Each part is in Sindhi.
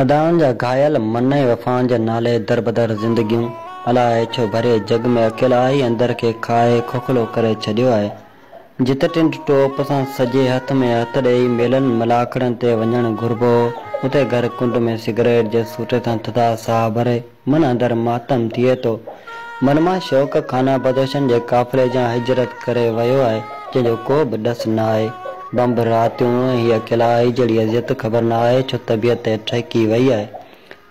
ادائن جا گهايل من ۽ وفائن جي نالي دربدر زندگيون الاء ڇو ڀري جڳ ۾ اڪيلائي اندر کي کائي کوکلو ڪري ڇڏيو آهي. جتي ٽنڊ ٽوپ سان سڄي هٿ ۾ هٿ ڏيئي ميلن ملاکڙن تي وڃڻ گهربو اتي گهر ڪنڊ ۾ سگريٽ جي سوٽي سان ٿڌا ساهه ڀري من اندر ماتم ٿئي ٿو. من مان شوق خانه بدوشن جي قافلي جيان هجرت ڪري ويو آهي جنهن جو ڪو به ڏس نه آهي. بمب راتيون ۽ هي اڪيلائي جهڙي اذيت خبر نه آهي ڇو طبيعت تي ٺهڪي وئي آهي.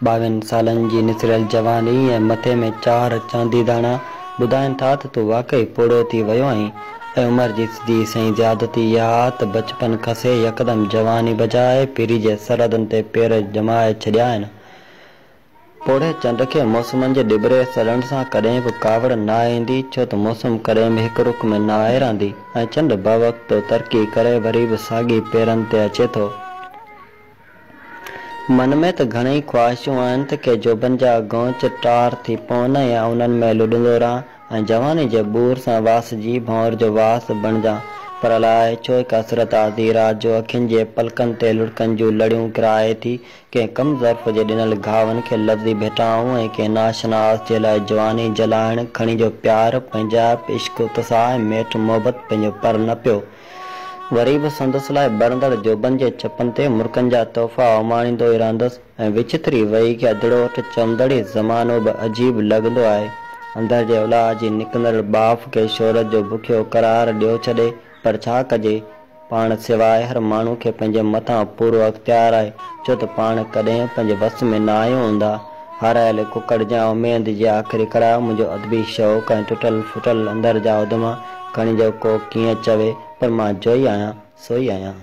ٻاوهن سالن جي نسريل جواني ۽ مٿي ۾ چار چاندي داڻا ٻڌائين ٿا ته تون واقعي پوڙهو ٿي ويو آهين ۽ عمر جي سڌي سنئين زيادتي اها آهي ته بچپن کسي يڪدم جواني بجاء پيري جي سرحدن تي پير ڄمائي ڇڏيا آهن. پوڙهي چنڊ کي موسمن جي ڏٻري سڙڻ سان ڪڏهن به ڪاوڙ ناهي ايندي ڇو ته موسم ڪڏهن به هڪ رخ ۾ ناهي رهندي ۽ چنڊ باوقتو ترقي ڪري وري به ساڳي پيرن تي اچي ٿو. من ۾ ته گهڻيئي خواهشون آهن ته ڪي جوڀن جا غونچ ٽار ٿي پون ۽ آء انهن ۾ لڏندو رهان ۽ جواني جي ٻور سان واسجي ڀنور جو واس بڻجان پر الاء ڇو هڪ حسرت آڌي رات جو اکين جي پلڪن تي لڙڪن جون لڙيون ڪرائي ٿي ڪنهن ڪم ظرف جي ڏنل گهاون کي لفظي ڀيٽائون ۽ ڪنهن ناشناس جي لاء جواني جلائڻ کڻي جو پيار پنهنجائپ عشق اتساهه ۽ ميٺ محبت پنهنجو پر نه پيو وري به سندس لاء ٻرندڙ جوڀن جي چپن تي مرڪن جا تحفا اماڻيندو ئي رهندس ۽ وچٿري وهي گيدڙو اٺ چوندڙ ئي زمانو به عجيب لڳندو آهي. اندر جي الاء جي نڪندڙ ٻاڦ کي شهرت جو بکيو قرار ڏيو ڇڏي پر ڇا ڪجي؟ پاڻ سواء هر ماڻهو کي پنهنجي مٿان پورو اختيار آهي ڇو ته پاڻ ڪڏهن پنهنجي وس ۾ نه آهيون هوندا. هارايل ڪڪڙ جي اميد جي آخري ڪڙا منهنجو ادبي شوق ۽ ٽٽل ڦٽل اندر جا اڌما کڻي جو ڪو ڪيئن چوي پر مان جوئي آهيان سوئي آهيان.